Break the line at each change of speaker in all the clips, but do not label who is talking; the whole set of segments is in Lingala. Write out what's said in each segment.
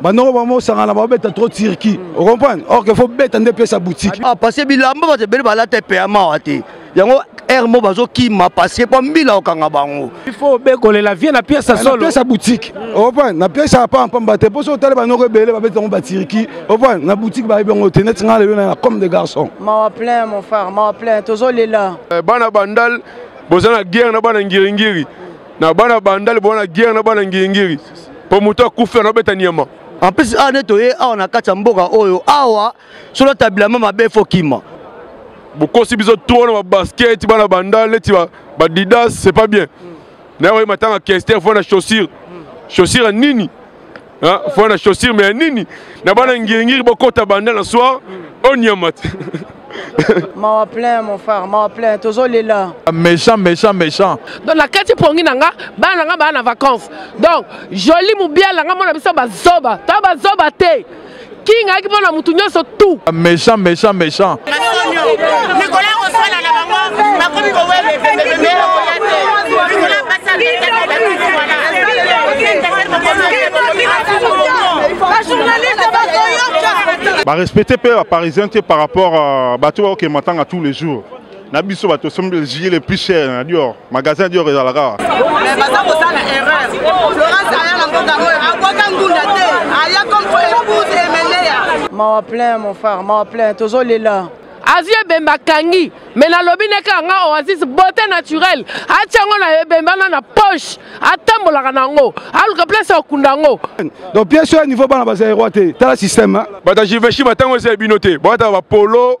banoko bango osangana babeta trop turquie ocomprendre or que fo beta nde pesa boutique ah, parce que bilamba bato
ebele balata epeya mawa te yango aire mo bazokima parce que mpo mbila okanga bango il faut
obekolela vie na pièce ya solo pièce ya boutique
opa na pièce ya pamba pamba te mpo soki otali banoko ebele babeti yango batiriki opa na boutique bayebi yango te neti ngai lelo na comme de garçon mawa plein mon
frère mawa plein tozolela eh, bana bandal
boza na guerre na bana ngiringiri na bana bandale bona guerre na bana ngingiri mpo moto akufi anabeta nyama en plus awa nde
toye awa na kati ya mboka oyo awa solo tabilama mabe fo kima bokosi
biso trop na babasket bana bandale neti badidas c'est pas bien naye oye matanga kester fo na chaussure chaussure ya nini Hein? Faut la chaussure, mais nini Na bana ngiri bokota banda la soir, on y a mat.
mawa plein mon frère mawa plein tozolela méchant méchant
méchant donc
nakati pongi na nga bana na nga baa na vacance donc joli mobiala nga mona biso bazoba to bazoba te King ayaki mpo na motu nyonso tout. Méchant, méchant,
méchant.
Nicolas akoswana na bango bakomi kowele pembepembe okoya
te likolo ya basi ateteaii wana barespecte mpe baparisien te par rapport euh, bato baokende matanga tous les jours na biso bato osombi jili le plus cher na dior magasin dior ezalaka mais baza kosala
erreur florence aya na mboka oyo akwaka ngunda te aya comme po épouse emeneya mawa plein mon frère mawa plein tozolela azwi ebembe
akangi me nalobi neke yanga oasis beauté naturelle atya yango na ebembe wana na poche atambolaka na yango aluka place ya kokunda yango donc pièce oyo
ya niveau bana baza eroi te tala système bato ya jiveshi batango
eza ya bino te boyataka bapolo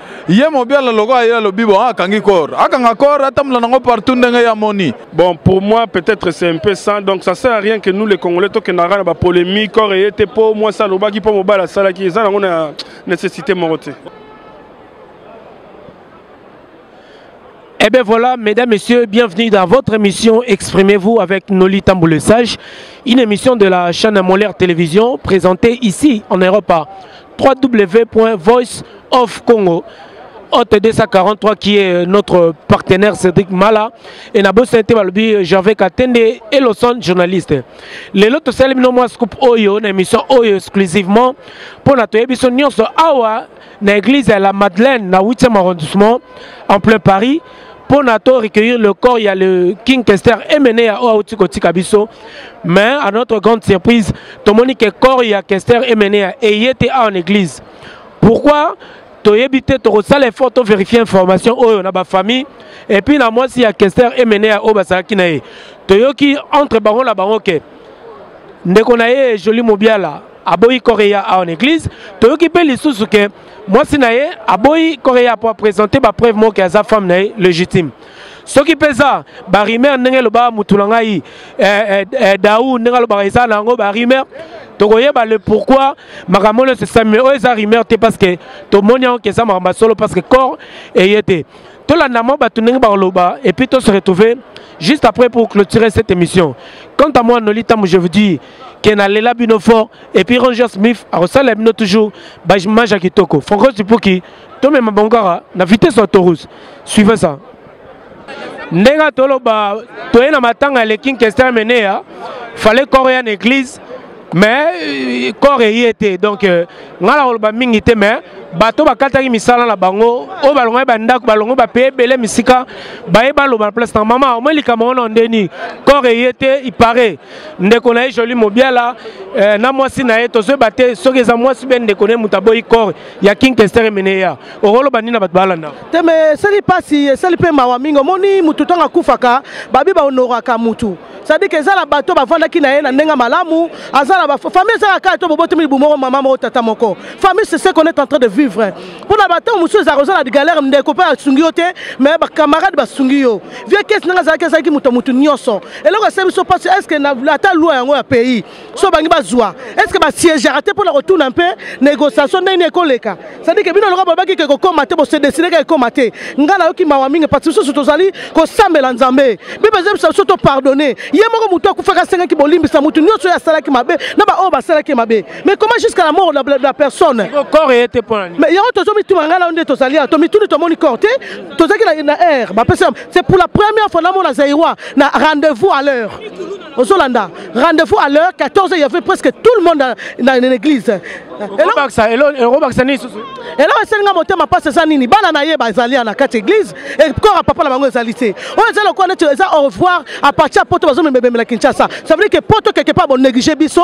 ye mobiala lokola ye alobi bon akangi corps akanga
corps atambola nango partout ndenge ya moni bon pour moi peut-être c'est un peu sans donc ça sert à rien que nous les congolais tokendaka na bapolémique corps eye te mpo mwasi alobaki mpo mobali asalaki eza nango na nécessité moko te
Eh bien voilà, mesdames, messieurs, bienvenue dans votre émission Exprimez-vous avec Noli Tambour le Sage, une émission de la chaîne Molaire Télévision présentée ici en Europe www.voiceofcongo Hôte 243 qui est euh, notre partenaire Cédric Mala et na bosse te balobi euh, Gervais Katende et Lawson journaliste. Les lots tosali bino mwa scoop oyo na émission oyo exclusivement pour na toyebi so nyonso awa na église ya la Madeleine na 8e arrondissement en plein Paris mpo na to recueillir le corps ya le king kester emene ya oyo auti kotika biso mais à notre grande surprise tomoni ke corps ya kester emene ya eye te awa na église pourquoi toyebi te tokosala effort to vérifier information oyo na bafamille epuis na mwasi ya kester emene ya oyo bazalaki na ye toyoki entre bango na bango ke ndeko na ye joli mobiala aboyi koreya awa na eglise toyoki mpe lisusu ke mwasi na ye aboyi koreya mpo apresente bapreuve moko ke aza femme na ye légitime soki mpe eza barimer ndenge elobaka motu na ngai eh, eh, eh, dau ndenge alobaka eza na yango barimer tokoyeba le pourquoi makambo nyonso esalemi oyo eza rimer te parce que tomoni yango ke eza makambo ya solo parce que corps eye te tolanda mwa bato ndenge bakoloba epuis to se retrouver juste après pour clôturer cette émission quant à moi noli ntango je vous dis que na lela bino fort et puis Ranger Smith akosala bino toujours ba image kitoko Franco Tipuki to même bangara na vitesse ya Taurus suivez ça ndenge toloba toye na matanga le King Kester Menea fallait corps ya église mais corps eye était donc euh, ngai nakoloba mingi te mais bato bakataki misala na bango oyo balongaki bandako balongo bapaye ebele misika baye baloba na place na mama omoi likambo wana ondeni corps eye était il paraît ndeko na ye joli mobiala eh, na mwasi na ye tozoyeba te soki eza mwasi be ndeko na ye moto aboyi corps ya king kester emene ya okoloba nini na bato balanda te me esali
mpasi esali mpe mawa mingi omoni motu ntango akufaka babi bahonoraka motu cestadire ke eza na bato bavandaki na ye na ndenge malamu aza na bafamille ezalaka kaka to bobotami libu moko mama moko tata moko famille c'est ce qu'on est en train de vivre mpo na batango mosusu ezalaka oza na galère ndeko mpe asungi yo te mais bacamarade basungi yo vieux kesi ndenge azalaki azalaki moto motu nyonso eloko esali biso mpasi estce ata lwa yango ya pays so bangi bazwa estce basiegaka te mpona kotuna mpe négociation ndenge nini ekoleka sadike bino loka bolobaki ke kokoma te bosedesideka ekoma te ngai nayoki mawa mingi mpasi bisusu tozali kosambela nzambe bible ezebisa biso topardonne ye moko motu akufaka asengaki bolimbisa motu nyonso oyo asalaki mabe na baoyo basalaki ye mabe mais comment jusqu'à la mort la personne
yango tozomituma
ngai nao nde tozali awa tomituni tomoni corps te tozalaki na, na air bapesi c'est pour la première fois namona zaïrois na rendez-vous à l'heure ozolanda rendez-vous à l'heure 14 il y avait presque tout le monde na l'église elobakisa nini susu eloko esali nga motema mpasi eza nini bana na ye bazali ya na kati ya église ekora papa na bango ezali te oyo eza lokola neti eza au revoir à partir ya poto bazomemebemela kinshasa ça veut dire que poto quelque part bonéglige biso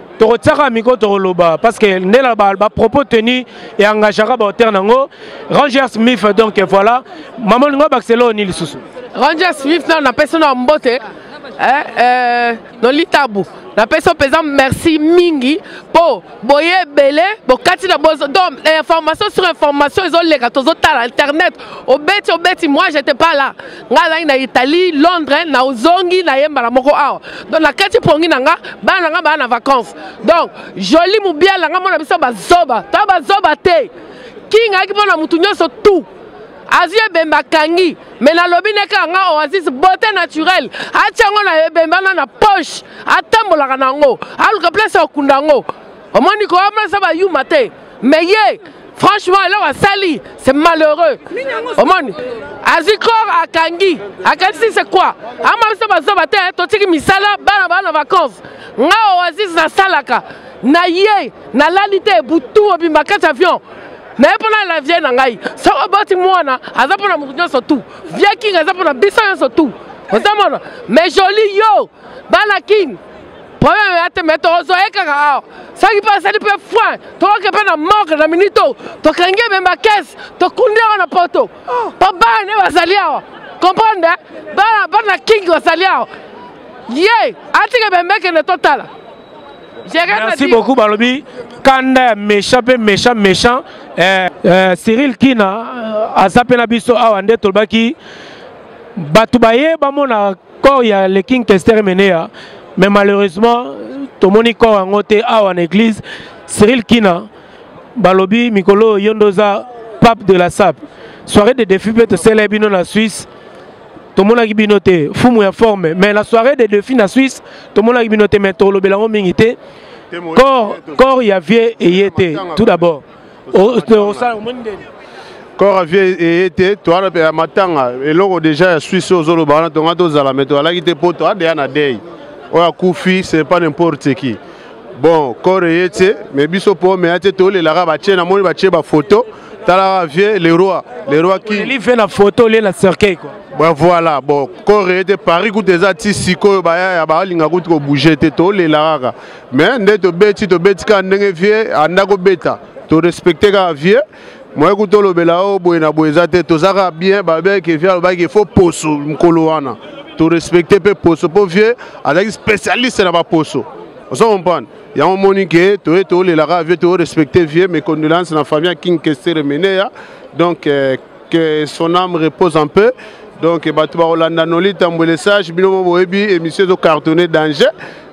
tokotiaka miko tokoloba parce que nde na bapropos tenu eengagaka baauteur nango ranger smith donc voilà mama olingo abakisa eloo ni lisusu ranger smith nano
napesi na mbote eh, eh, nolitabu napesi yo mpenza merci mingi mpo boye ebele bokati na bozo donc information sur information ezoleka tozotala internet obeti obeti moi j'étais pas là ngai azalaki na italie londres na ozongi na ye mbala moko awa donc nakati pongi na nga bana na nga baa na vacance donc joli mobiala nga mona biso bazoba to bazoba te king ayaki mpo na motu nyonso tout azwi ebembe akangi me nalobi ne kaka nga oasis beauté naturelle atya yango na ebembe wana na poche atambolaka na yango aluka place ya kokunda yango omoni ko omesa ba yuma te mais ye franchement eloko asali c'est malheureux omoni azwi kor akangi akanisi c'est quoi ama biso bazoba te totiki misala bana bana vacance nga oyo azizi nasalaka na ye nalali te butu obimba kati avion naye mpo nalela vie na ngai soki oboti mwana aza mpo na moto nyonso tu vie king aza mpo na biso nyonso tu ozamona mais joli yo bana king problème ya te me tokozwa ye kaka awa soki mpe asali mpe foin tokoke mpe na morgue na minute oyo tokangi ye mema kese tokundi yango na poto mpo bana nde bazali awa comprendre bana bana kingi bazali awa ye atika bembekende totala merci
beaucoup balobi kanda ya méchant mpe méchant méchant eh, eh, cyril kina euh, aza mpe na biso awa nde tolobaki bato baye bamona corps ya le king kester emeneya mais malheureusement tomoni corps yango te awa na église cyril kina balobi mikolo oyo yo nde oza pape de la sape soirée de défi mpe tosala bino na suisse tomonaki bino te fumu ya forme mais la soirée de défi na suisse tomonaki bino te mais tolobela yango mingi te corps ya vie eye te tout d'abord
kora vie eye te towana mpe ya matanga eloko deja ya swisse oyo ozoloba wana tonga tozala me toalaki te mpo toadeya na dei oyo akufi c'est pas n'importe qui bon kore eye te me biso mpo omeya te tolelaka batie namoni batie bafoto talaka vie le roi le roi kive na foto
olie na cercueil kua bon voilà
bon kore eye te paris kuta eza ti sikoyo bayaya balinga kutu kobouge te tolelaka kaka mais nde tobeti tobeti kaka ndenge vie anda kobeta torespecte kaka vie moye kuta olobela o oh, boye na boye eza te toza kaka bien babeke vie alobaki fo poso mokolo wana torespecte mpe poso mpo vie azalaki spécialiste na baposo ozo comprendre yango omoni ke toye toolelaka vie toorespecte vie mes condoléances na famille ya king kestere meneya donc euh, que son âme repose en peu donc bato bakolanda noli tambwele sage bino mo boyebi émission ezo cartonne danger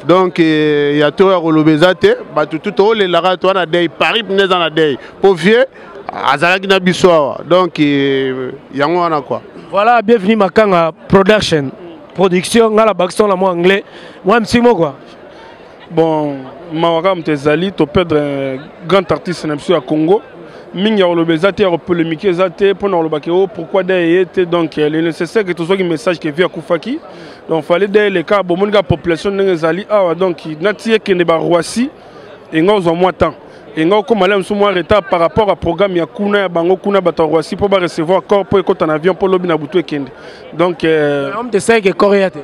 donc eh, ya to ya koloba eza te bato tu toolelaka to wana dei paris mpena eza na dei mpo vieux azalaki na biso awa donc eh, yango wana kua voilà bienvenue
makanga production production nga na bakison na mwa anglais mwa msimo kua bon
mawa kaka moto ezali toperdre euh, grand artiste na biso ya congo mingi ya koloba eza te ya kopolemike eza te mpo na koloba ke o oh, pourquoi da eye te donc euh, le nécessaire ke tozwaki message ke vie akufaki donc fallait da eleka bomoni kaka population ndenge ezali awa donc nati ekende baroisi enga ozwa mwa temps enga okóma la mosusu mwa retard par rapport ya programme ya kuna ya bango kuna bato ya roisi mpo barecevoir corps mpo ekota na avion mpo lobi na butu ekende donc euh, te corps ya te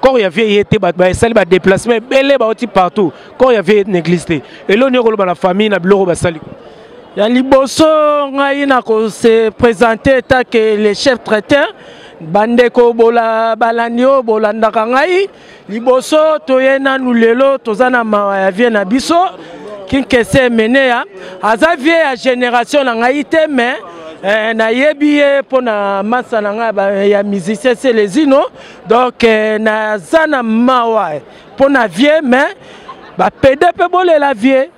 corps ya vie ye te bato basali badéplacement ebele bauti partout corps ya vie n'église te eloo nini okoloba na famille na biloko basali ya liboso ngai nakose présente etake le chef traiteur bandeko bola balandi oyo bolandaka ngai liboso toye nanu lelo toza na mawa ya vie na biso kinkese emeneya aza vie ya génération na ngai te mais eh, nayebi ye mpo na masa na ngai ya musicien selezino donc euh, naza na mawa mpo na vie mais bapede mpe bolela vie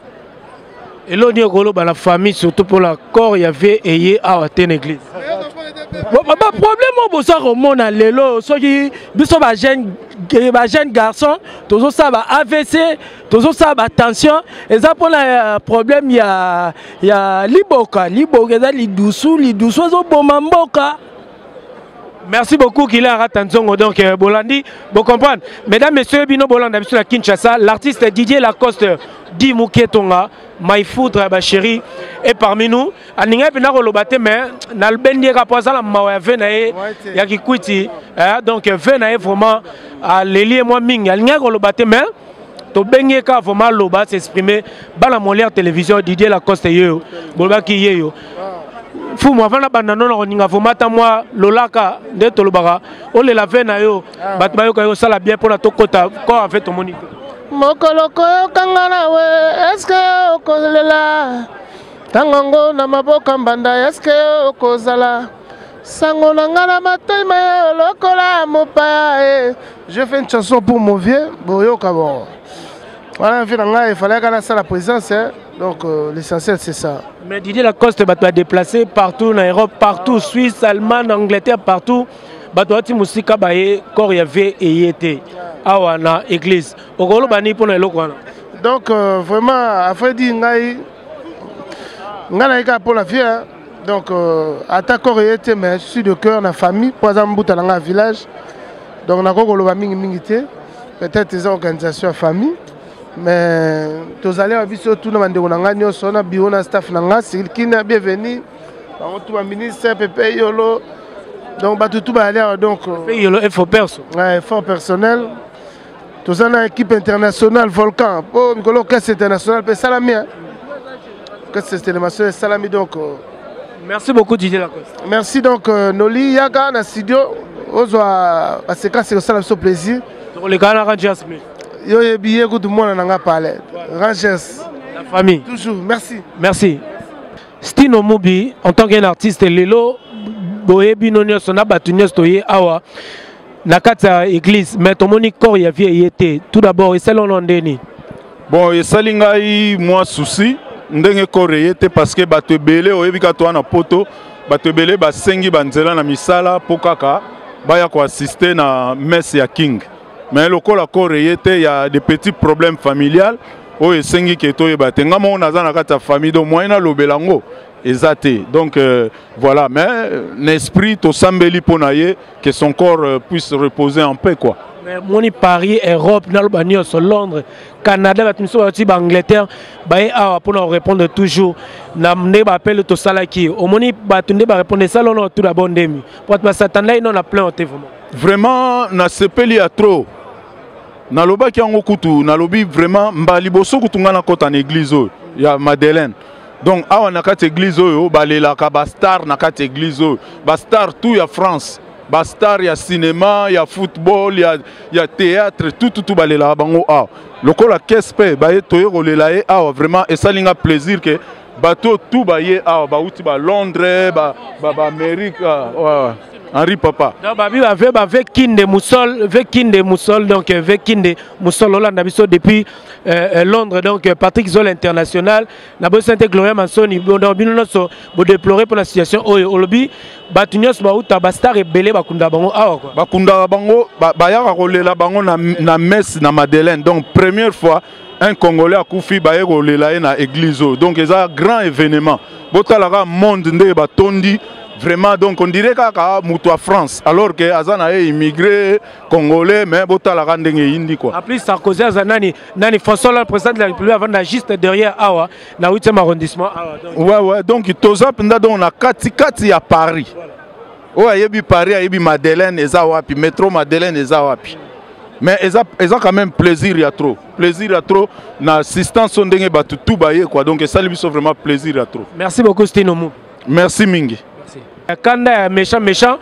elo nini okoloba na famille surtout mpo na corps ya vie eye awa te na église baproblème oyo boza komona lelo soki biso bajeune bajeune garçon tozosala ba avc tozosala batension eza mpona euh, problème ya, ya liboka liboka eza lidusu lidusu ezoboma mboka Merci beaucoup qu'il a raté Nzongo donc euh, Bolandi, vous comprenez Mesdames messieurs, bino Bolanda biso la Kinshasa, l'artiste Didier Lacoste dit Muketonga, my foudre ma chérie et parmi nous, aninga pena ko lobate mais na lbendi ka poza la mawa ya vena e ya kikuiti, hein donc euh, vena e vraiment à leli moi mingi, aninga ko lobate mais to bengi ka vraiment loba s'exprimer bana molière télévision Didier Lacoste yeyo, bolba ki yeyo fumu avanda banda nona koninga vomata mwa lolaka nde tolobaka olela ve na yo ah. bato bayoka yo osala bien mpona tokota ko ave tomoni te mokolo koyokanga na we eske okolela ntango yango na maboka mbanda eske okozala sango na ngai na matema yo lokola mopaya e je fais une chanson pour mon vieux boyoka bongo Voilà, vie nanga, il fallait qu'on ça la présence, hein. donc euh, l'essentiel c'est ça. Mais Didier Lacoste, bah, tu as déplacé partout en Europe, partout, Suisse, Allemagne, Angleterre, partout. Bah, tu as dit Moussika Baye, corps yavé et yété. Awa na église. Okolo bani pour na eloko wana. Donc euh, vraiment, après dit ngai, ngai na eka pour la vie, hein. donc euh, ata corps yété, mais je suis de cœur na famille, pour exemple, Mbuta na village, donc na kokolo ba mingi mingi te. peut-être eza organisation ya famille mais tozali awa biso tuna bandeko na ngai nyonso na biro na staff na ngai sikilkina bienvenu bango tu baministre pepe yolo donc bato tu bayali awa donc yolo effort perso effort personnel toza na équipe internationale volcan mpo mikolo orchestre international mpe esalami Kasi cette animation esalami donc. Euh, Merci beaucoup Didier Lacoste. Merci donc euh, Noli Yaga na studio ozwa basekasi kosala biso plaisir. Tokolekana na Rangers mais. Yo yebi ye kutu mwana na nga pale. Rangers. La famille. Toujours merci. Merci. Stino Mubi en tant qu'un artiste lelo boyebi no nyonso na bato nyonso toye awa na kati ya église mais tomoni corps ya vie eye te tout d'abord esalona ndeni bon esali ngai mwa souci ndenge koreye te parce que bato ebele oyebi ka toa na poto bato ebele basengi banzela na misala mpo kaka baya koassiste na messe ya king mais lokola koreye te ya de petits problèmes familial oyo esengi ke toyeba te ngai moko naza na kati ya famille donc moyen nalobela yango eza te donc euh, voilà mais na esprit tosambeli mpo na ye que son corps euh, puisse reposer en paix quoi mais moni paris europe naloba nyonso londres canada bato mosusu bauti baangleterre baye awa mpona korépondre toujours na ndenge baapele tosalaki omoni bato nde barépondre esala ono tout d'abord ndemi po bato basatandai no na plein te vraiment vraiment nasepeli ya trop nalobaki yango kutu nalobi vraiment mba liboso kutu ngai nakota na église oyo ya madeleine donc awa na kati église oyo balelaka ba star na kati église oyo ba star tout ya France ba
star ya cinéma ya football ya, ya théâtre tout tout, tout balelaka bango awa lokola kese mpe baye toye kolela ye awa vraiment esali nga plaisir ke bato tout baye awa bauti ba Londres ba, ba, ba Amérique ah, ouais. Henri Papa. Non, bah, bah, ve, bah, ve
kinde moussol, ve kinde moussol, donc euh, ve kinde moussol, Hollande, depuis euh, euh, Londres, donc euh, Patrick Zoll International. na bosi te gloria mansoni donc bino nyonso bodeplore mpo na situation oyo olobi bato nyonso bauta bastar ebele bakundaka bango awa kua bakundaka bango
bayaka kolela bango na messe na madeleine donc première fois un congolais akufi baye kolela ye na église oyo donc eza grand événement botala kaka monde ndenge batondi vraiment donc on dirait kaka moto ya france alors que aza na ye immigré congolais mais botalaka ndenge eyindi quoi en plus sarkozy aza nani
nani François Hollande président de la République avanda juste derrière awa na 8e arrondissement awa donc ouais ouais donc toza
penda donc na kati kati ya Paris voilà. oyo ayebi Paris ayebi Madeleine eza wapi métro Madeleine eza wapi mais eza eza quand même plaisir ya trop plaisir ya trop na assistance ndenge bato tout baye quoi donc esali biso vraiment plaisir ya trop merci beaucoup Stino Mou
merci mingi
ya kanda ya
méchant méchant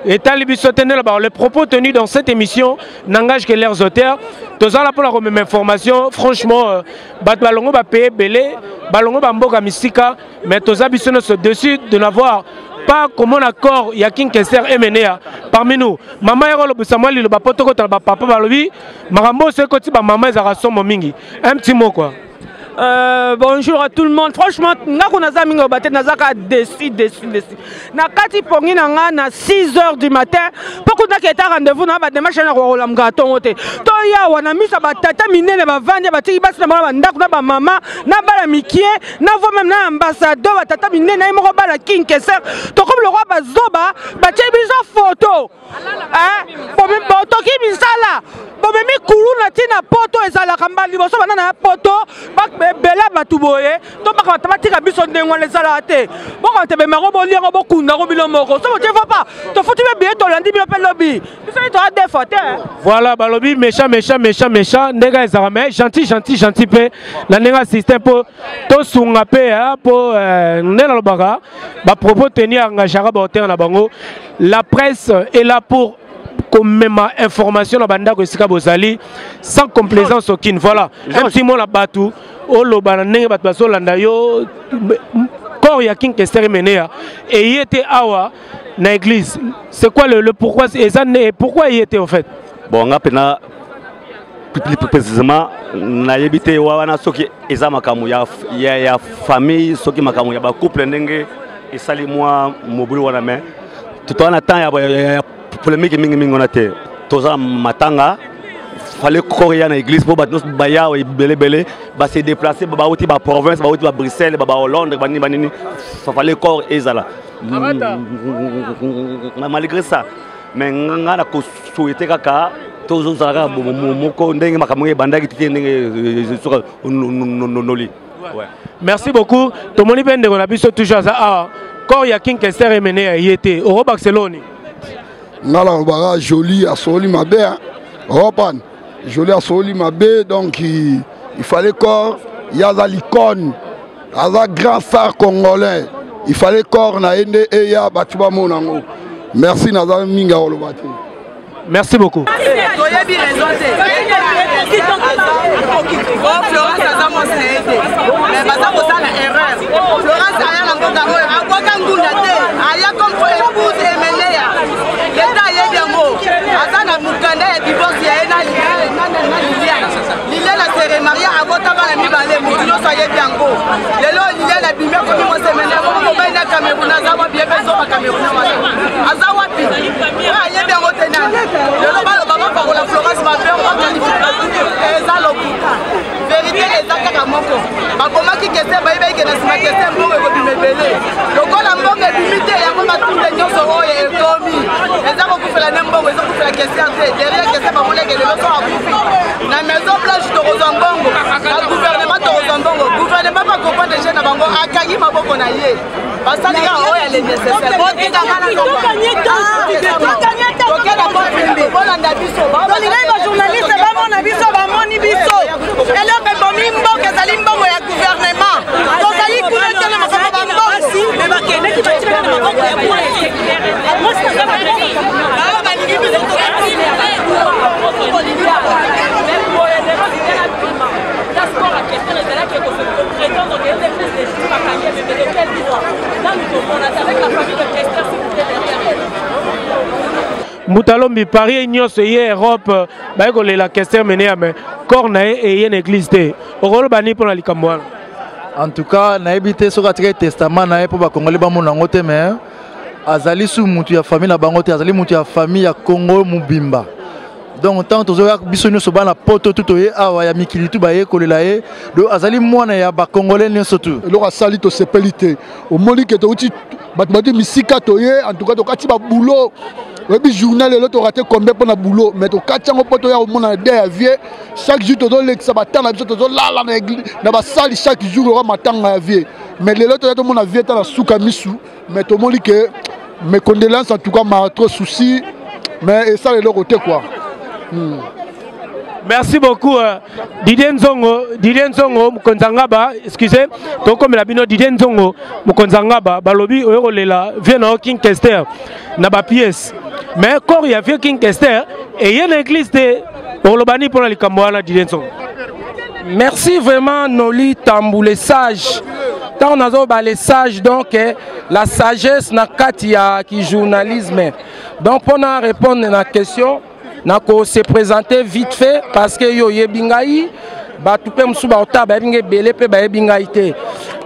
etali biso te ndela bao les propos tenus dans cette émission n'engage que leurs auteurs toza la mpona komema information franchement euh, bato balongo bapaye ebele balongo bamboka misika mais toza biso nyonso dessus de n'avoir pas comment accord ya king kester emenea parmi nous mama yako lobisa mwa liloba mpo tokotala bapapa balobi makambo oso ekoti bamama ezalaka somo mingi un petit mot quoi Euh,
bonjour à tout le monde franchement nga ko naza mingi obate naza kaka déçu déçu déçu na kati pongi na nga na 6 heures du matin mpo kutaki eta rendez-vous na bademarshe na kokolamka ntongo te to yawa na miso ya batata minene bavandi batiki basi na bango na bandako na bamama na bana mikie na vo meme na ambassadeur batata minene ye moko bana kinkeser tokomi lokola bazoba batie biso foto botoki eh, misala bomemi kuluna ntina poto ezalaka mbala liboso bana na ya poto ebele ya bato boye to bakamata batika biso ndenge wana ezalaka te bokamata ebema yango bolia yango bokunda yango bino moko so botie fo pa tofuti mpe biye tolandi bino mpe lobi biso ye toya defa te voilà balobi
méchant méchant méchant méchant ndenge ezalaka mais gentil gentil gentil mpe na ndenge ya système mpo tosunga mpe mpo eh, nde nalobaka bapropos teni engageaka bahotere na bango la presse est là pour komema information na bandako esika bozali sans complaisance aucune voilà un petit mot na bato oloba na ndenge bato bazolanda yo corps ya king kester emeneya eye te awa na église c'est quoi le, le pourquoi eza pourquoi eye te en fait bon nga mpena
precisement nayebi te wana soki eza makambo ya, ya, ya famille soki makambo ya bacouple ndenge esali mwa mobulu wana me totoa na temps ya, ya, ya polemike mingimingi wana te toza matanga fale koya na église mpo bato nyonso baya ebelebele base déplace bauti baprovince bauti babruxelles bahollandre banini banini fale corps ezala malgré ça mais nga na ko souhaiter kaka tozozala kaka moko ndenge makambo ebandaki te ndenge soka noli
merci beaucoup tomoni mpe ndeko na biso toujours aza awa corps ya king kester emene ya ye te okobakisa eloni nga
na lobaka jolie asoli mabe opan Jolie asololi mabe donc il fallait corps ye aza l'icône aza grand star congolais il fallait corps na ye nde eya bato bamona yango merci naza mingi ya koloba te merci
beaucoup toyebi raison te florence aza mwasi na ye te mais baza kosala erreur florence aya na mboka oyo leta ayebi yango aza na mokanda ya divorce ya ye na liliane
liliane asere maria abota bana mibale motu nyonso ayebi yango lelo liliane abimi akomi mosemene akomi mobali na cameroun aza wapi ye mpe zoba cameroun wana aza wapi oyo ayebi yango te nani lelo baloba bapakola florence mabe oyo bakalifi eza lokuta verite eza kaka moko babomaki kese bayebaki ke na nsima kese mbongo ekobima ebele lokola mbongo ebimi te yango batunde nyonso oyo ekomi eza kokufela ne mbongo eza kokufela kese te derrière kese bamoneke lelo so akufi na maison blanche tokozwa mbongo na gouvernement tokozwa mbongo gouvernement bakopa deje na bango akangi maboko na ye basali kaka oyo ya le nécessaire botika bolanda biso tolingaki bajournaliste bamona biso bamoni biso eloko ebomi mboka ezali mbongo ya guvernema tozali kuna te na makambo bambongosi bakendaki batika na maboko ya balingi biso
mbutalombi paris ye nyonso eye europe euh, baye kolela kester mene ya me corps na ye eye na église te okoloba nini mpo na likambo wana en tout
cas nayebi te soki atikaki testament na ye mpo bakongoli bamona yango te mais azali su motu ya famille na bango te azali motu ya famille ya congo mobimba donc ntango tozoya biso nyonso bana poto tu toye awa ya mikili tu bayekolela ye do azali mwana ya bakongole nyonso tu eloko asali tosepeli
te omoni ke touti bato bati misika toye antuka tokati babulo oyebi journal elo torate combien mpo na boulot mais tokati yango mpo toya komona de ya vie chaque jour tozolekisa batanga na biso tozolala na basali chaque jour loka matanga ya vie mais lelo toya tomona vie ta na suka misu mais tomoni ke mes condoléances en tout cas ma trop souci mais esala eloko te quoi hmm.
merci beaucoup euh, didie nzongo didie nzongo mokonzi ya ngaba excuse tokomela bino didie nzongo mokonzi ya ngaba balobi oyo kolela vie na yo king kester na bapiese mais corps ya vieux king kester eye na église te oloba nini mpo na likambo wana dilenson merci
vraiment noli tambu le sage ntango nazoba le sage donc eh, la sagesse na kati ya kijournalisme donc mpo na répondre na question nako se présenter vite fait parce que yo oyebi ngai bato mpe mosusu baotala bayebi ngai ebele mpe bayebi ngai te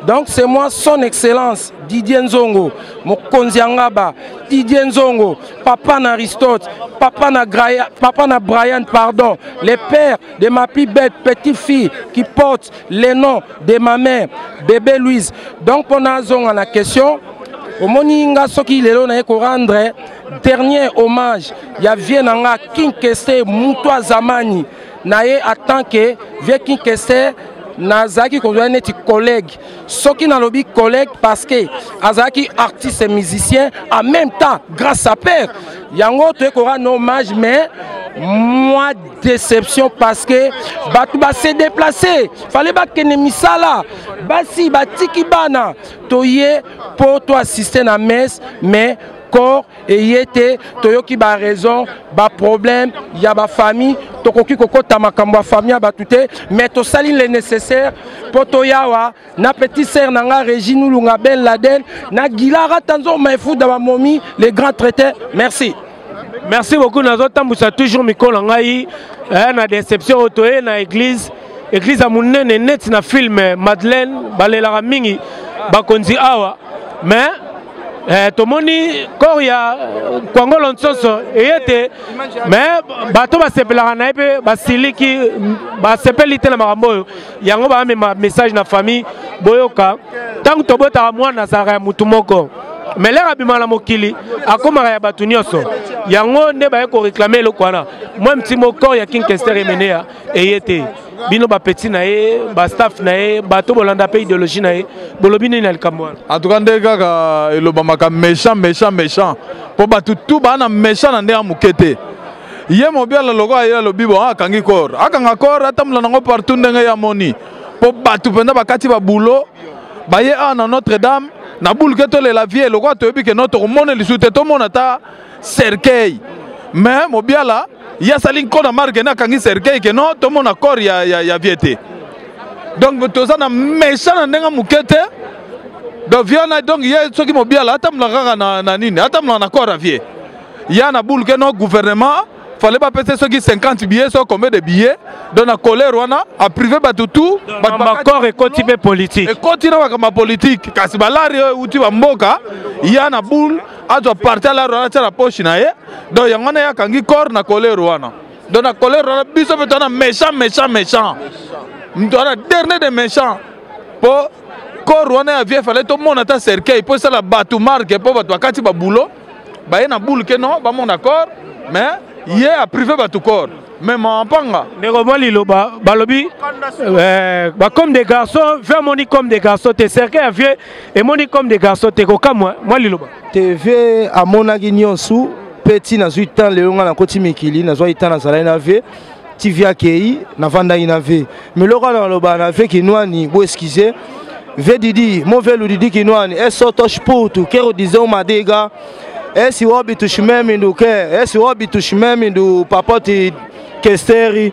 donc c'est moi son excellence didier nzongo mokonzi ya ngaba didier nzongo papa na Aristote, papa na, Graya, papa na Brian, pardon, le père de ma plus belle petite fille qui porte le nom de ma mère, bébé Louise. Donc on a zonga la question. omoni nga soki lelo naye korendre dernier hommage ya vie na nga kinkese moto azamani na ye atant ke vie kinkese nazalaki kozwa neti collègue soki nalobi collègue parce que azalaki artiste musicien en même temps grâce à père yango toye koka na hommage mais moi déception parce que bato base déplace fale bakende misala basi batiki bana toye mpo toassiste na messe mais corps eye te toyoki ba raison ba problème ya ba famille tokoki kokota makambo ya famille ya bato te mais tosali le nécessaire mpo toyawa na petit sœur na nga régine ulunga ben laden na gilara tanzo maefuda bamomi le grand traité merci merci
beaucoup nazotambwisa toujours mikolo na ngai eh, na déception oyo toye na église eglise ya monene neti na film eh, madeleine balelaka mingi bakonzi awa mais eh, tomoni corps ya eh, kwangolo nsoso eye te mais bato basepelaka na ye mpe basiliki basepeli te na makambo oyo yango baamema message na famille boyoka ntango tobotaka mwana azalaka ya motu moko mais lere abima na mokili akomaka ya bato nyonso yango nde baye koreklame eloko wana mwa mtimo corps ya kinkester emeneya eye te bino bapeti na ye bastaff na ye bato bolanda mpe idéologie na ye bolobi nini na likambo wana antuka nde kaka
elobamaka méchant méchant méchant mpo bato tu baa na méchant na ndenge moke te ye mobiala lokola ye alobi bo ah, akangi kor akanga kor atambola nango partout ndenge ye amoni mpo bato mpenza bakati babulo baye awa ah, na notre dame na bulke tolela vie lokola toyebi ke no tokomona lisusu te tomona ata cercueil mais mobiala ye asali nko na marke na akangi cercueil ke non tomona corps ya, ya, ya vie te donc toza na méchant na ndenge moke te donc vie wana donc ye soki mobiala atambolaka kaka na, na nini atambolaka na corps ya vie ya na boule ke non gouvernement fallait bapesa soki 50 billets soki combien de billets donc na colère wana aprive bato tout bakor
ekoti mpe politique ekoti na makambo ya
politike kasi balari oyo euti bamboka ya na boule azwa parti alaro wana atia na poche na ye donc yango wana ye akangi corps na kolero wana donc na kolero wana biso mpe towana méchant méchant méchant moto wana dernier de méchant mpo corps wana ya vie fale tomona ata cercueil mpo esala bato marke mpo bato bakati babulo baye na boule ke non bamona corps mais ye aprive bato corps mais mampanga ndeko mwa liloba
balobi eh, bacomme des garçons ve amoni comme des garçons te cercueil ya vie emoni comme des garçons te kokamwa mwa liloba tv
amonaki nyonso mpe ti nazwi temps lelo ngai nakoti mikili nazwaki temps nazalaki na vie tv akei navandaki na vie miloko wana naloba na vie kinwani bo excuse vie didi mo vie ludidi kinwani esotosh putu kero disons madega esi wobitushimemi nduke esi wobitushimemi ndu papoti kesteri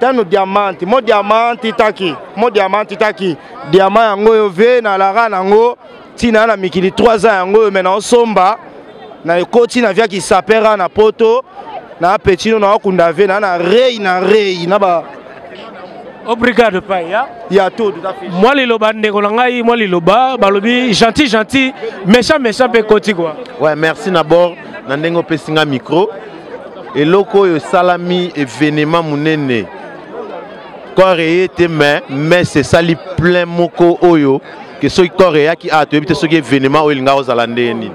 tano diamanti mo diamanti taki mo diamanti taki diama yango oyo ve na lara na yango ntina na mikili 3 ans yango oyo me naosomba na ekoti na viaki sapera na poto na petino na okunda ve na na rei na rei na ba
obrigado pai ya ya todo
mwa liloba ndeko na
ngai mwa liloba balobi gentil gentil méchant méchant mpe koti kua ouais merci na bord
na ndenge opesi ngai micro eloko oyo esalami evenema monene corps eye te mais messe esali plein moko oyo ke soki corps eyaki a toyebi te soki evenema oyo elingaka ozala ndenge nini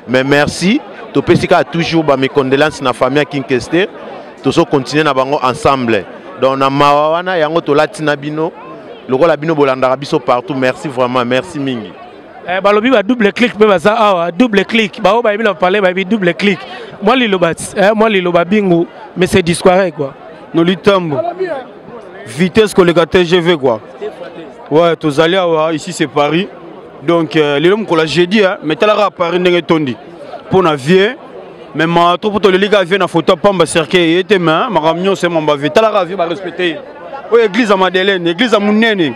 mais merci topesi kaka toujours bamecondelance na famille ya kinkester tozo continue na bango ensemble donc na mawa wana yango tolati na bino lokola bino bolandaka biso partout merci vraiment merci mingi Eh, balobi ba
double clic mpe baza awa double clic baoyo bayebi na palais bayebi double clic mwa liloba eh, mwa liloba bingu mais c'est disquare quoi no litambo
vitesse koleka tgv quoi ouais tozali awa ici c'est paris donc euh, lelo mokolo ya jeudi mais talaka paris ndenge etondi mpo na vie mais ma trop poto lelika vie na photo pamba cercueil ye te mais makambo nyonso emamba vie talaka vie barespecte ye oyo église ya madeleine église ya monene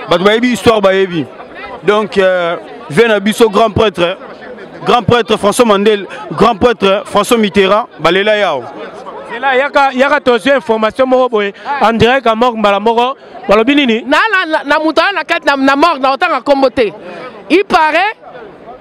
bato bayebi histoire bayebi donc euh, vie na biso grand prêtre grand prêtre françois mandel grand prêtre françois mitterrand balela yao zela yaka,
yaka tozwi information moko boye en direct ya morgue mbala moko balobi nini na, na, na, na moto aya na
kati na, na morgue na otanga nkombo te il paraît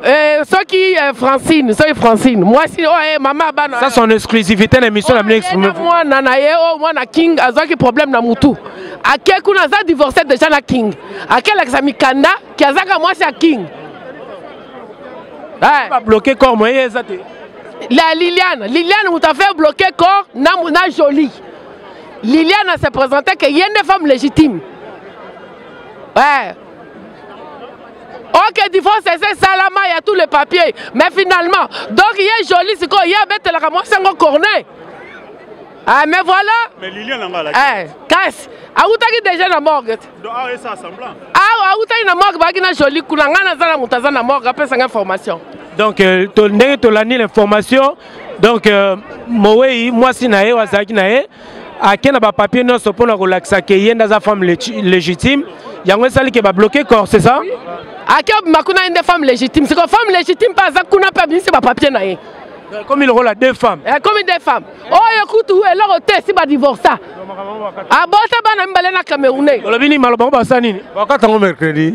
Eh, soki eh, francine soki francine mwasi oyo oh, eh, mama bana ça son exclusivité
na émission na bino exprime mwana na ye
oyo oh, mwana king azwaki problème na mutu ake kuna aza divorce déjà na king akelakisa mikanda ki azaka mwasi ya king eh.
babloke corps moye ye eza te la
liliane liliane moto afaire bloke corps na, na jolie liliane se présentait ke ye nde femme légitime eh. ok divorce eza esalama ya tout le papier mais finalement donc ye joli sikoyo ye abetelaka mwasi yango cornet Ah, mais voilà. Mais Lilian nanga la.
Eh, kasi
awutaki déjà na morgue. Donc ah ça semblant.
Ah, awutaki na
morgue baki na jolie kuna nga na zana mutu aza na morgue apesa nga information. Donc euh, to
ndenge tolandi l'information donc euh, mowei mwasi na ye wazalaki na ye ake na bapapier nyonso mpo na kolakisa ke ye nde aza femme légitime yango esali ke babloke corps c'est ça ake obima
kuna ye nde femme légitime siko femme légitime mpe aza kuna mpe abimisi bapapier na ye ekomi lokola
deux femmes ekomi eh, deux femmes
oyo kutu eloko te esi badivorsa abota bana mibale na camerounais olobi nini maloba ngo basala
nini bakata yango mercredi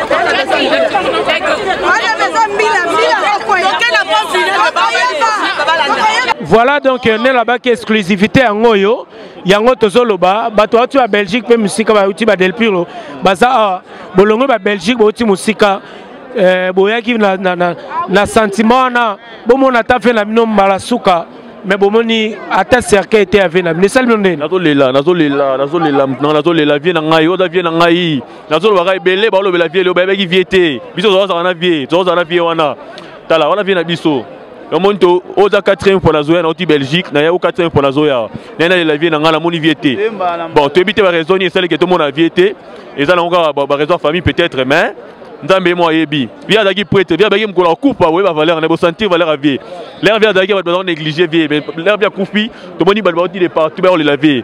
voilà donc euh, nelabaki exclusivité yango oyo yango tozoloba bato bauti ba belgique mpe mosika bauti ba delpiro baza awa bolongwe ba belgique bauti mosika eh, boyaki na, na, na, na sentiment wana bomona ata mpe na bino mbala suka mais bomoni ata cercueil te ave na bino esali bino ndeni nazolela nazolela
nazolela nazolela vie na ngai oza vie na ngai nazoloba kaka ebele baolobela vie leo bayebaki vie te biso tozalazaka na vie tozalazaka na vie wana tala wana vie na biso omoni to oza 4e mpo nazoya nauti belgique naya o 4e mpo nazoya naye nalela vie na ngai namoni vie te bon toyebi te baraison nini esaliki tomona vie te eza nango kaka baraison ya famille peut-être mais nzambe ye mo ayebi vie azalaki prêtre vie abaki mokolo akufa oye bavaleur na bosentir valeur ya vie lere vie azalaki bato bazalaki néglige vie lere vie akufi tomoni bato bauti de partout bayolela vie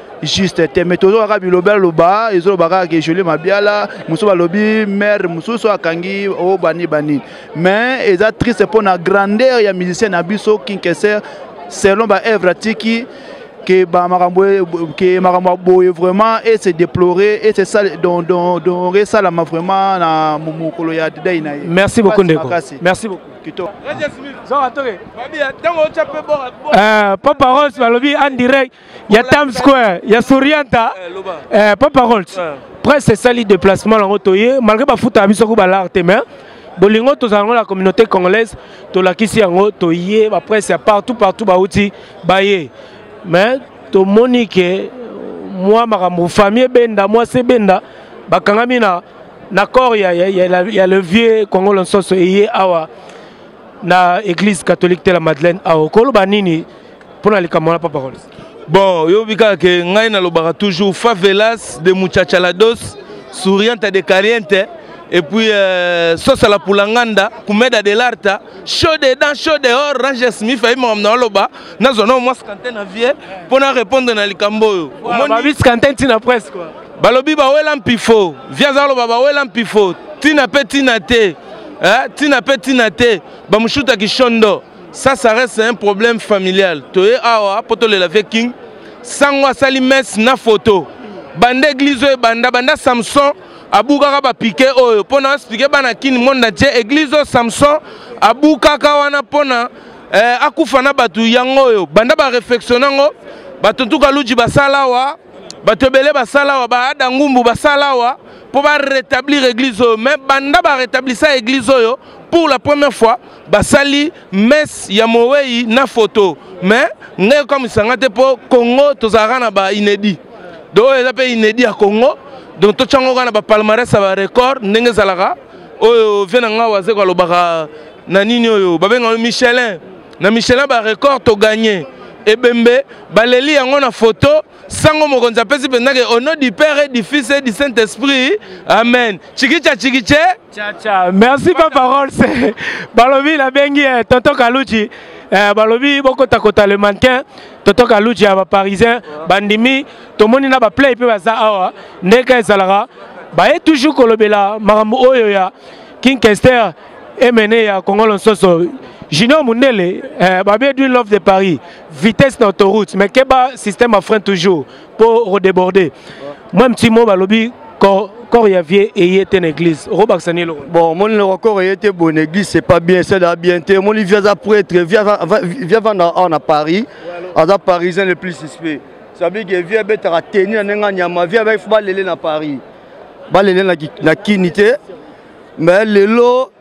juste te mais tozo kaka biloba loba ezoloba kaka ke jolie mabiala mosusu balobi mare mosusu akangi o oh, bani bani mais eza triste mpo na grandeur ya musicien na biso kinkeser selon baevre atiki ke makambo ke makambo ya boye vraiment e se déplorer e se sale donc donc donc esalama vraiment na mokolo ya dei na ye merci beaucoup ndeko
merci beaucoup kitoko papa rose balobi en direct Il y a Times Square, il y a Sorianta, eh, euh, pas parole. Après, c'est ça le déplacement, malgré que foot a mis sur l'art, mais bolingo tozala yango la communauté congolaise tolakisi yango toye bapresse ya partout partout bauti baye mais tomoni ke mwa makambo famille ebenda mwasi ebenda bakangami na na corps ya, ya, ya, ya le vieux kongo lonsoso eye awa na église catholique te la madeleine awa okoloba nini mpo na likambo wana papa rolis bon yobi
kaka ke ngai nalobaka toujours favelas de muchachalados sourianta de caliente et puis euh, sosa la pulanganda kumeda de l'arta chaud dedans chaud dehors ranger smith ayi makambo na oloba nazwa nao mwasi kante na vie mpo na répondre na likambo oyo omoniis kante
ntina presse kua balobi bawela
mpifo vi aza koloba bawela mpifo ntina mpe ntina te eh, tina pe tina te bamushuta kishondo ça ça reste un problème familial toye awa po tolela vie king sango asali messe na photo banda eglise oyo ebanda banda samson abukaka bapike oyo mpo na explike bana kini monde entier eglise oyo samson abukaka wana mpo na eh, akufa na bato yango oyo banda bareflexiona yango bato ntuka luji basala awa bato ebele basala awa baada ngumbu basala awa mpo ba rétablir église oyo mais banda ba rétablissa église oyo pour la première fois basali messe ya mowei na photo mais ngai okamwisa nga te mpo congo tozalaka na ba inédit donc oyo eza mpe inédit ya congo donc totyango kaka na bapalmarès ya barecord ndenge ezalaka oyo vie na ngai wazeko alobaka na nini oyo babengaka michelin na michelin barecord toganye ebembe baleli yango na foto sango mokonzi apesi mpenza ke au nom du père et du fils et du saint esprit amen chikicha chikiche chacha
merci pa parole se balobi nabengi eh, tonto kaluchi eh, balobi bokotakota le mannequin tonto kaluchi ya baparisien bandimi tomoni na baplay mpe baza awa ndenge ezalaka baye toujours kolobela makambo oyo ya king kester emene ya kongolo nsoso junior mundele eh, babe edwin love de paris vitesse na autoroute mais keba système à frein toujours pour redéborder moi un petit mot balobi corps corps ya vie eye te na église okobakisa nini eloko bon omoni
loko corps eye te bon église c'est pas bien c'est da bien te omoni vie aza prêtre vie avanda awa na paris aza parisien le plus suspect sabi ke vie abetaka teni na ndenge anyama vie abaki fo balele na paris balele na kini te mais lelo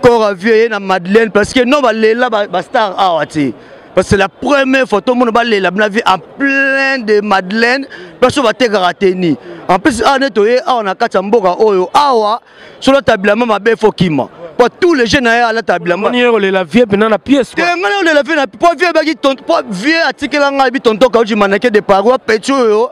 Cora vieux ye na Madeleine parce que non balela ba, ba star awa te. Parce que c'est la première fois tout le monde balela na vie en plein de Madeleine parce que batekaka teni. En plus awa neto ye awa na kati ya mboka oyo awa solo tabila mama be fokima. po tous les jeunes aye alata bilamba olela vie mpena na
pièce te ngai olela vie na po
vie ebaki po vie atikela ngai bi tonton kauji manake de paroi peti oyo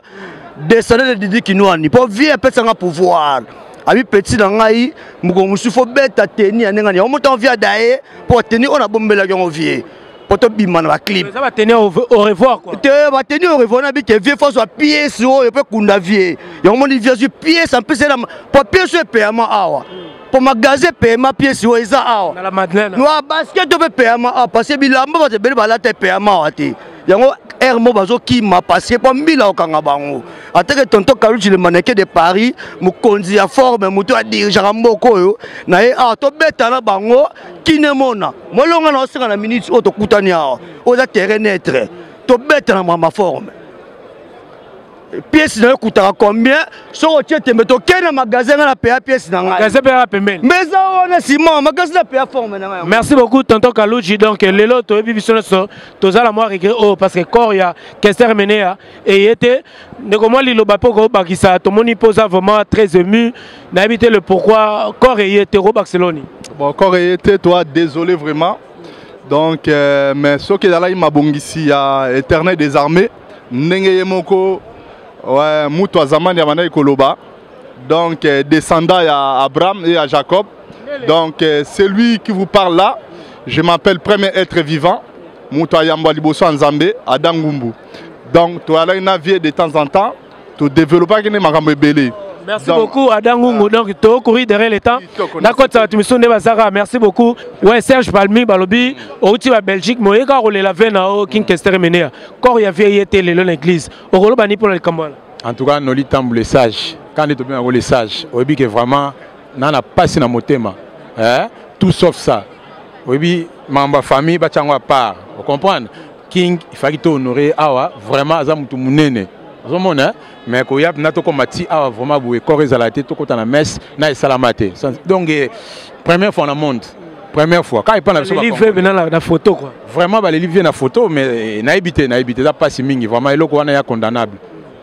descendant de didi kinuani po vie apesanga pouvoir abi petit na ngai mokolo mosusu fo beta teni ya ndenge nini yango motango vie ada ye mpo teni oyo nabombelaki yango vie mpo tobima na baclip
te bateni au revoir na
bike vie fo azwa piese oyo mpe kunda vie yango moni vie azwi piese ampese na mpo piese oyo epeyama awa mpo magasin epeyama piese oyo eza awa noa basket oyo mpe epeyama awa parce que bilamba bato ebele balata epeyama awa te yango aire moko bazokima parce que mpo mbila okanga bango ateke tonto kaluchi le maneke de paris mokonzi ya forme moto adirigeaka mboka oyo na ye awa tobeta na bango kinemona molonga na osenga na minute oyo tokutani awa oyo eza terrain netre tobeta na mama forme pièce na yo ekutaka combien soki otie tembe tokei na magasin ngai na paya pièce na ngai mbe eza
wana sima
magasin na paya forme na ngai merci beaucoup tonton
kaluji donc lelo toyebi biso nyonso toza na mwa regret oyo oh, parce que corps ya kester menea eye te ndeko mwa liloba mpe okobakisa tomoni mpo oza vraiment très ému nayebi te le pourquoi corps eye te okobakisa eloni bon corps eye te
toi désolé vraiment donc euh, mais soki ezalaki mabongisi ya éternel des armées ndenge ye moko ouais, mutu ya zamani abandaki koloba donc euh, descendant ya abraham et ya jacob donc euh, celui qui vous parle là je m'appelle premier être vivant mutu ayambwa liboso ya nzambe adangumbu donc toyalaki na vie de temps en temps todeveloppaki nde makambo ebele Merci donc, beaucoup
Adam Ngungu. Ah. Donc to courir derrière le temps. Na kota watu misonde bazaka. Merci beaucoup. Ouais Serge Balmi balobi outi ba Belgique moye ka rolela vena o King Kester menea. Kor ya vie yete le l'église. Okolo bani pour le kambala. En tout cas Noli
Tambu le sage. Quand est bien le sage. Oyebi que vraiment nana pasi na motema. Hein? Tout sauf ça. Oyebi mamba famille ba chango à part. Vous comprenez? king ifaki to honore awa vraiment aza mutu munene ozomona hein? mais koya na tokoma ti awa vraiment boye kor ezala te tokota na messe na esalama te donc eh, première fois na monde première fois kaka epai na biso na photo
quoi vraiment baleli vie na
photo mais eh, nayebi te nayebi te eza mpasi mingi vraiment eloko wana ya condamnable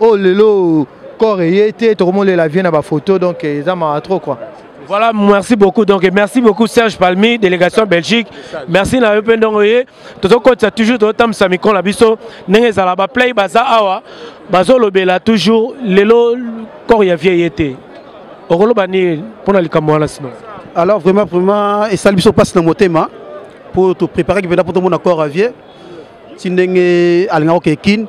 oh lelo corps eye te tokomolela vie na bafoto donc eza mawa trop quoi Voilà, merci
beaucoup. Donc, merci beaucoup Serge Palmi, délégation Belgique. Merci na yo pendongo ye. Tozo kotsa toujours to tam samikon la biso. Nenge zala ba play baza awa. Bazo lobela toujours lelo corps ya vieille été. Okolo bani pona likambo wana sino. Alors vraiment
vraiment esali biso passe na motema pour te préparer que pena pour tout monde corps à vieille. ti ndenge alingaki oke kin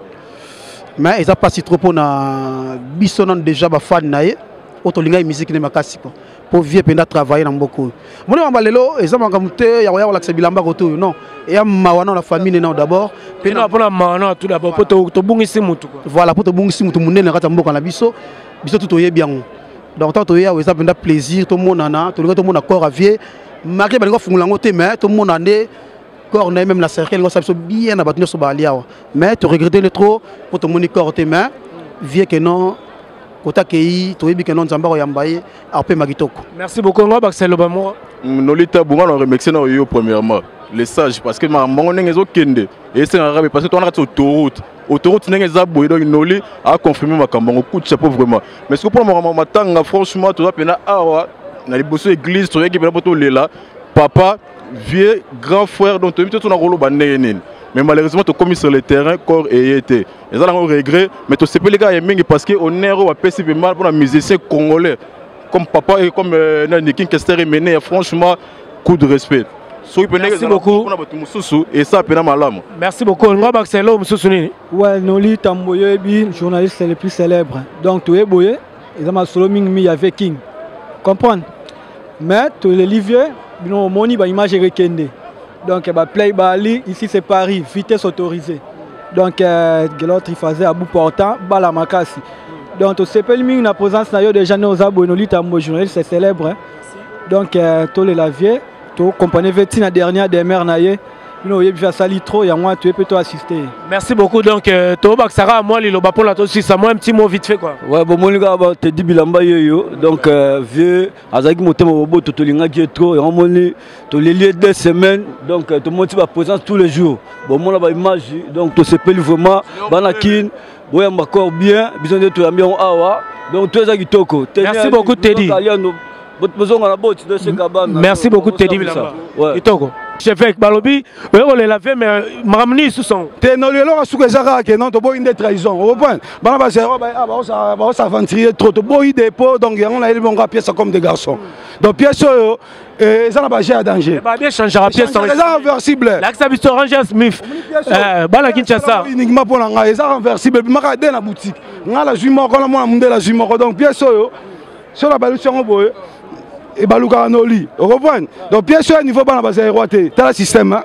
mais eza mpasi trop mpo na biso nano déjà bafane na ye oyo tolingaki miziki nde makasi mpo mpo vie mpenza travaille na mboka oyo moni mamba lelo eza makambo te ya koya kolakisa bilamba koto oyo non eya mawa nao na famille ne nao d'abord mpona mawa
nao tout d'abord mpo tobungisi motu voilà mpo tobungisi motu
monene na kati ya mboka na biso biso tu toyebi yango donc ntango toye awa eza mpenza plaisir tomonana tolingi tomona corps à vie marke balingi kofungola yango te mais tomona nde corps na ye meme na cercle elingo sa biso bien na bato nyonso baali awa mais toregrete le trop mpo tomoni corps te mais vie que non kota kei toyebi ke non nzambe akoyamba
ye apema kitoko merci beaucoup yango abakisa eloba moko mm,
nolita bonga na remercie na oyo premièrement le sage parce que makambo ndenge ezokende esengaka be parce que towana kati autoroute autoroute ndenge eza boye donc noli aconfirme makambo yango coup de chapeau vraiment mais soki mpona makambo matanga franchement toza mpena awa na liboso église toyaki mpena mpo tolela papa vieux grand frère donc toyebi te tona koloba ndenge nini mais malheureusement tokomi sur le terrain corps eye te eza nango regret mais tosepeli kaka ye mingi parce que honneur oyo bapesi mpema mpona musicien congolais comme papa et comme euh, nani king kester emene franchement coup de respect soki mpe ndenge Merci ezala beaucoup.
mpona bato mosusu esa
mpena malamu merci beaucoup olingo abakisa
eloko mosusu nini
Ouais, Noli Tamboyebi, journaliste le plus célèbre. Donc, tu es boyé. eza masolo mingi mingi ya vie king comprendre mais toleli vieux bino omoni baimage ekekende donc baplay bali ici c'est paris vitesse autorisée donc euh, gelor trifaze abu portant bala makasi donc tosepeli mingi na présence na yo déjà ne oza boye nolitambo journaliste célèbre donc euh, tolela vieux To comprenez ve tina dernière demeure na ye. Bino oyebi fa sali trop ya mwa to peut to assister. Merci beaucoup donc
euh, to bakisaka mwa liloba pona to sisa mwa petit mot vite fait quoi. Ouais bon moni ka ba
te dibilamba yoyo donc euh, vieux azaki motema bobo to tolinga je trop yango moni to leli deux semaines donc euh, to monti ba présence tous les jours. Bon mona ba image donc to sepeli vraiment bana kin boyamba corps bien biso nde toyambi yango awa donc to eza kitoko merci beaucoup tedi
bozonga na boti toseka bana merci beaucoup tedi bilamba kitoko cheveke balobi oye kolela vie me makambo nini lisusu yango te no lelo ka suka eza
kaka ke non toboyi nde trahison oprendre bana bazero baosavanturie trop toboyi depo donc yango nayebi bongo pièce comme de garçon donc pièce oyo Eh, eza na baje ya danger
eza inversible
lakisa biso ranger
smith eh, bana kinshasa uniquement mpo na ngai eza
renversible ebimaka de na boutique ngai nazwi moko na mwana mondele azwi moko donc pièce oyo so nabalusi yango boye ebalukaka na oli okoprendre donc pièce oyo ya niveau bana bazali roi te tala système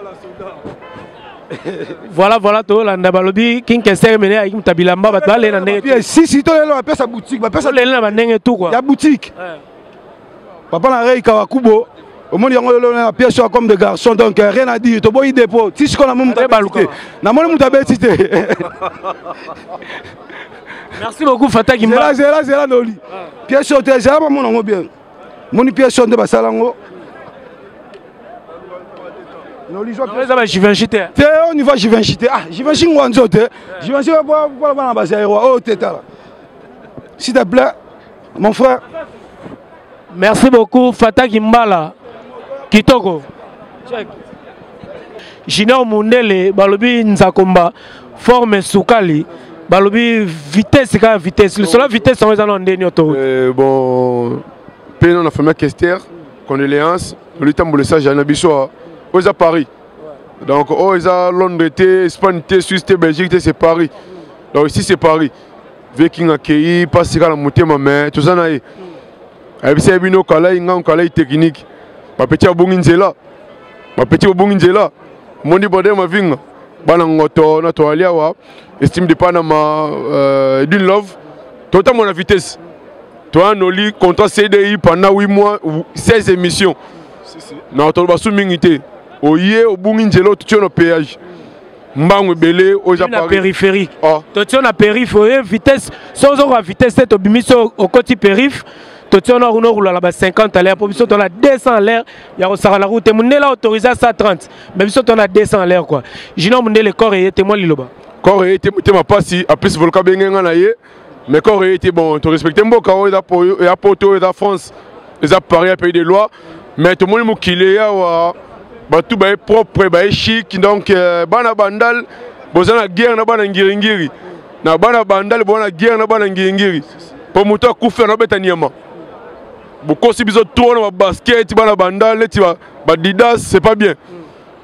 voilà voilà tolanda balobi kinkester mene ayaki moto ya bilamba bato balele na ndenge sisi tolelo bapesa
boutique bapesa lele na bandenge tu kua ya
boutique eh.
papa na rei kawakubo omoni yango lelo na pièce oyo comme de garçon donc euh, rien à dire toboyi dépôt ti sikoyo namoni moto abeti te namoni moto abeti te merci
beaucoup fataki zela zela zela noli
pièce oyo te zela bamona yango bien moni pièce oyo nde basala yango eza ba givenchy te
te au niveau givenchy
te ah givenchy ngwa nzo te givenchy mpona bana bazairoi oyo te tala s'il te plaît mon frère
merci beaucoup fataki mbala kitoko check junior mundele balobi nzakomba forme sukali balobi vitesse kaka vitesse lisolo ya vitesse yango eza na ndeni yo to euh, bon
mpe na famille kester condoléance lolitambola esage na biso oyo eza paris donc oyo oh, eza londres te espagne te suisse te belgique te c'est paris donc ici c'est paris Vieux King akeyi pasi kala motema mais toza na ye. Ayebisa ye bino kalai ngango kalai technique. Bapeti abongi nzela. Bapeti obongi nzela. Mondi bode mavinga. Bana ngoto na toali awa. Estime de Panama euh, d'une love. Tota mon vitesse. Toi noli contrat CDI pendant 8 mois 16 émissions. Na toloba su mingi te. Oye obongi nzela otutio na péage. mbangu ebele oza na périphérie oh.
totio na périphe oye vitesse so ozokoka vitesse te tobimisi okoti périphe totio na kuna okolala ba 50 à l'air mpo biso tona 200 à l'air ya kosakana ku te mondele autorise a 130 mais biso tona 200 à l'air quoi junior mondele corps eye te mwa liloba corps eye te motema
mpasi apesi volka benge nga na ye mais corps eye te bon to respecte mboka oyo eza ya poto oyo eza france eza paris ya pays de loi mais tomoni mokili yawa bato baye propre baye chic donc euh, bana bandal boza na guerre na bana ngiringiri na bana bandal boza na guerre na bana ngiringiri mpo moto akufi anabeta nyama bokosi biso trop na babasket bana bandal neti badidas c'est pas bien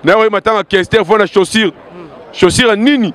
naye oye matanga kester fo na chaussure chaussure ya nini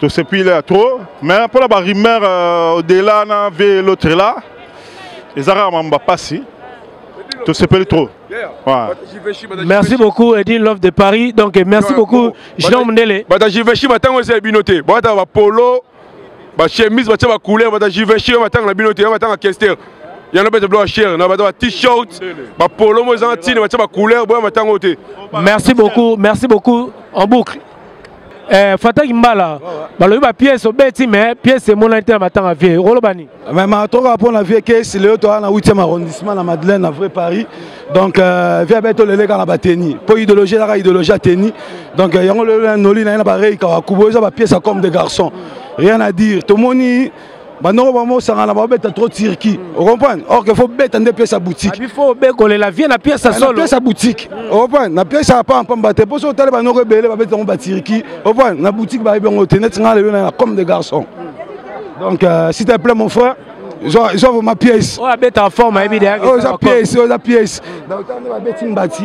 To se pile ya trop mais pour la ba rumeur euh, au-delà na vie l'autre là. Ezara mamba passi. To se pile trop.
Merci beaucoup Edine Love de Paris. Donc merci beaucoup Jean Mndele. Bata Jiveshi batango
c'est binoté. Bata ba polo, ba chemise, bata ba couleur, bata Jiveshi batango na binoté, batango kester. Il y en a besoin de cher, na ba t-shirt, ba polo mo ezanga tine, bata ba couleur, boya matango te. Merci beaucoup, merci
beaucoup en boucle. Eh, fataki mbala balobi ba pièce obeti mais pièce emonani te na matanga vie okoloba nini mais matoka mpo
na vie kesi lelo toza na 8e arrondissement na madeleine na vrai paris donc euh, vie abe toleleka na bateni mpo idéologie ezaka idéologie ya teni donc euh, yango lelo noli na ye na barei kawakubo eza bapièce ya comme de garçon rien à dire tomoni banoko bango osangana babeta trop turki ocomprendre or que fo beta nde pièce ya boutique ah, fo obekolela
vie na pièce ya ah, solo pièce ya boutique
ocomprendre na pièce ya pamba pamba te mpo soki otali banoko ebele babeti yango baturki ocomprendre na boutique bayebi yango te neti ngai lelo na comme des garçons donc euh, s'il te plaît mon frère zwa vraimen pièce oyo abeta forme ayebi
deyaoza pièce oza
pièce donc ntango babeti mbati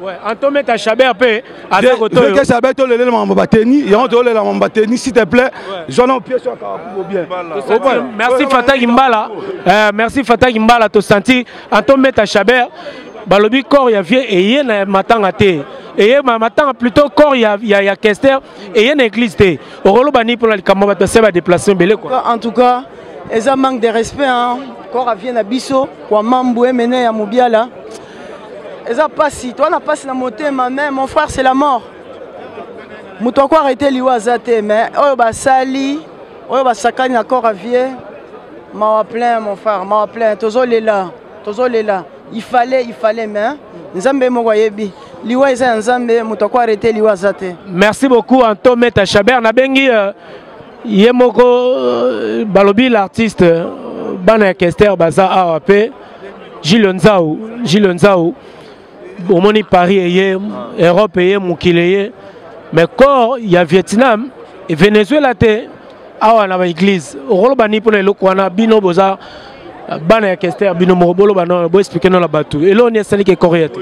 Ouais, Antometa
Chabert pe aza kotoyo. Deke Chabert to lele mambo
bateni, yango to lele mambo bateni s'il te plaît. Zona au pièce ka kubo bien. Merci
Fatah Gimbala. Euh, merci Fatah Gimbala to senti Antometa Chabert balobi corps ya vieux eye na matanga te eye ma matanga plutôt corps ya ya, ya Kester eye na église te. Okoloba ni pona likambo bato se ba déplacer belé quoi. En tout cas,
eza manque de respect hein. Corps ya vieux na biso kwa mambu emene ya Mubiala. eza pasi toa na pasi na motema mais mon frère c'est la mort moto ako arrete liwa aza te mais oyo basali oyo basakani na corps à vie mawa plein mon frère mawa plein tozolela tozolela il fallait il fallait mais nzambe moko ayebi liwa eza ya nzambe moto ako arrete liwa aza te merci beaucoup anto
meta chabert nabengi euh, ye moko euh, balobi l'artiste euh, bana ya kester baza awa mpe Gilles Nzau, Gilles Nzau, omoni Paris eye, Europe eye, mokili eye, mais corps ya Vietnam, Venezuela te, awa na ba église, okoloba ni pona eloko wana bino boza bana ya Kester bino moko boloba no bo expliquer no la batu. Elo ni esali ke corps ya te.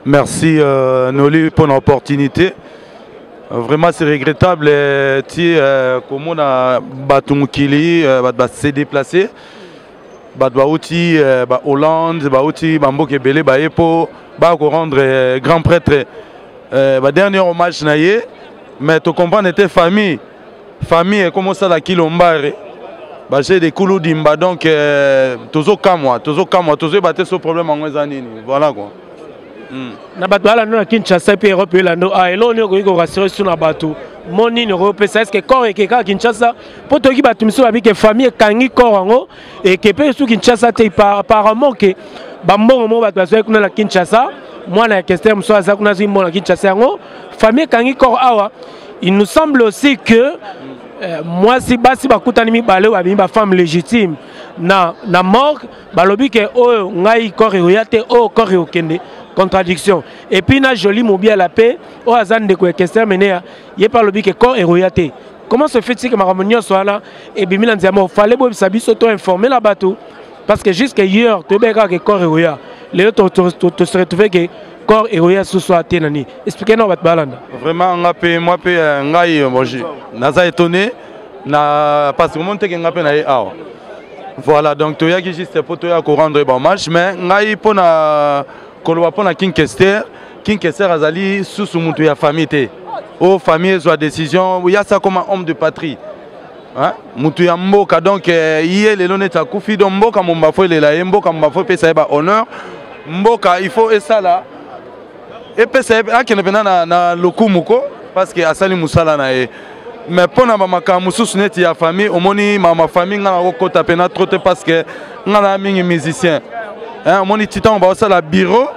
Merci
euh, Noli pour l'opportunité. Euh, vraiment c'est regrettable euh, ti euh, komona bato mokili euh, bato base déplacer bato bauti euh, ba hollande bauti bamboka ebele baye mpo baya korendre euh, grand prêtre euh, badernier hommage na ye mais tocomprendre te famille famille ekoma osala kilombare baje de kulu dimba donc tozokamwa tozokamwa tozoyeba te so problème yango eza nini voilà quoi hmm. na
bato balando na kinshasa mpe europe elando ah, eloo nini okoki korasire su na bato mo nini okopesa eske corps ekekaka kinshasa mpo toyoki bato mosusu babi ke famille ekangi kor yango eke mpe esu kinshasa te apparemment ke bambongo moko bato bazwaki kuna na kinshasa mwana ya kester mosusu aza kuna azwi mbongo na kinshasa yango famille ekangi kor awa il nous semble aussi que euh, mwasi basi bakutani mibale oyo babimi bafemme légitime na, na morgue balobi ke oyo ngai kor ekoya te oyo kor ekokende contradiction epuis na joli mobiala mpe oyo aza ndeko ya kester menea ye mpe alobi ke corps eroya te comment se fait-il que makambo nyonso wana ebimi na nzela moko fale boyebisa biso to informe na bato parce que jusque hier toyebaki kaka ke corps eroya lelo tose retrouve ke corps eroya susu ate na nini explike nao bato balanda vraiment nga mpe
mwa mpe euh, ngai euh, naza étonné na parce que omoni teke nga mpe na ye awa voilà donc toyaki juste mpo toya korendre ba hommage mais ngai mpo na koloba mpo na king kester king kester azali susu moto ya famille te o oh, famille ezwa décision yasa koma homme de patrie moto ya mboka donc eh, ye lelo neti akufi donc mboka momba fo elela ye mboka momba fo epesa ye bahonneur mboka il faut esala epesa ye akende mpenza na, na lokumu ko parce que asali mosala na ye mais mpo na bamakambo mosusu neti ya famille omoni mama famille ngai nakokota mpena trop te parce que ngai na mingi musicien omoni ti ntango baosala bureau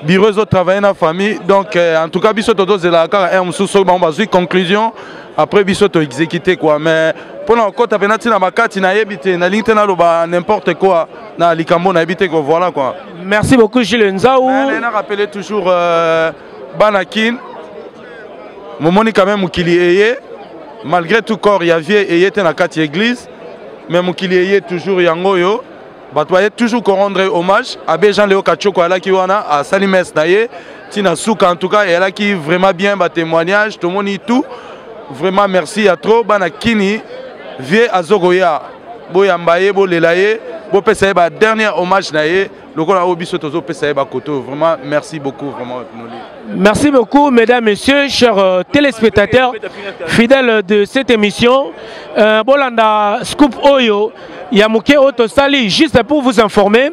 bureau ezotravaille na famille donc euh, en tout cas biso tozozelaka kaka heure mosusu soki bango bazwi conclusion après biso toexécute quoi mais mpo na kokota mpena ntina bakati nayebi te nalingi te naloba n'importe quoi na likambo nayebi te ko voilà quoi merci beaucoup gile
nzau na rappele
toujours euh, bana kin momoni quand même mokili eye malgré tout corps ya vie eye te na kati ya église mais mokili eye toujours yango oyo bato baye toujours korendre hommage abe jean leo kachoko alaki wana asali messe na ye ntina suka en tout cas eyalaki vraiment bien batémoignage tomoni tout vraiment merci ya trop bana kini vie azokoya boyamba ye bolela ye bopesa ye ba dernier hommage na ye lokola oyo biso tozopesa ye bakoto oyo vraiment merci beaucoup vraiment noli merci beaucoup
mesdames messieurs chers euh, téléspectateurs fidèles de cette émission euh, bolanda scoop oyo ya moke oyo tosali juste pour vous informer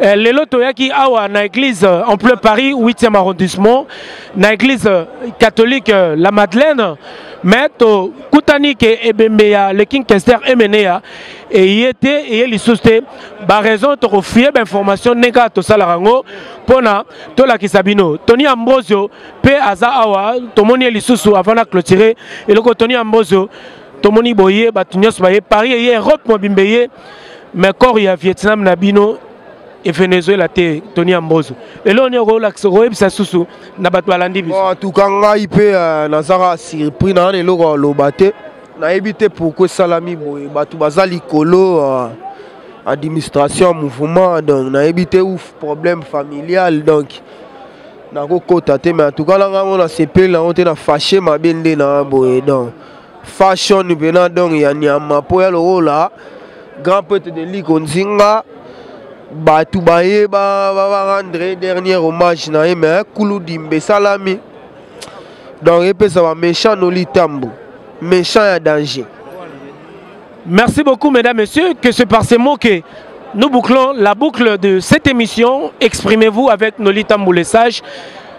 euh, lelo toyaki awa na église euh, en plein paris 8e arrondissement na église euh, catholique euh, la madeleine mais tokutani ke ebembe ya le king kester emeneya eye te eye lisusu te ba raison toko fouiller ba information ndenge kaka tosalaka yango mpona tolakisa bino tony ambrosio mpe aza awa tomoni ye lisusu avant na clôture eloko tony ambrosio tomoni boye bato nyonso baye paris eye europe mobimba eye mais corps ya vietnam na bino e venezuela te tony ambozo lelo oni okolakisa okoyebisa susu na bato balandi biso tuka ngai mpe
euh, nazaka surpris na wana eloko aloba te nayebi te pourkui esalami boye bato baza likolo uh, administration mouvement donc nayebi te ouf problème familial donc nakokota te mais atuka na ngango nasepeli nango te na fache mabe nde na boye donc fashion mpena donc ya nyama mpo ya lokola grand prêtre de liko nzinga bato baye barendre dernier hommage na ye mais kuludimba esalami donc epesa ba méchant noli tambu méchant ya danger
merci beaucoup mesdames messieurs que c'est par ces mots que nous bouclons la boucle de cette émission exprimez-vous avec noli tambu le sage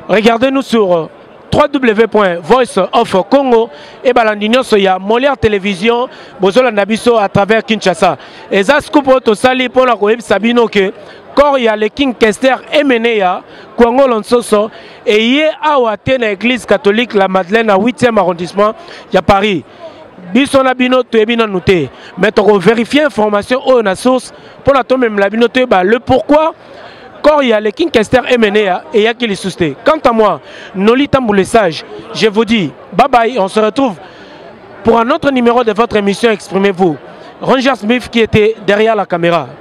regardez-nous sur euh, www.voiceofcongo et balandi nyonso ya molière télévision bozolanda biso à travers kinshasa eza scoop oyo tosali mpo na koyebisa bino ke corps ya le king kester emeneya kuangolo nsoso eye awa te na église catholique la madeleine na 8e arrondissement ya paris biso na bino toyebi nanu te mais tokoverifie information oyo na source mpo na tomemela bino toyeba le pourquoi corps ya le king kester emenea eyaki lisusu te quant à moi noli tambule sage je vous dis bye bye on se retrouve pour un autre numéro de votre émission exprimez-vous Ranger Smith qui était derrière la caméra.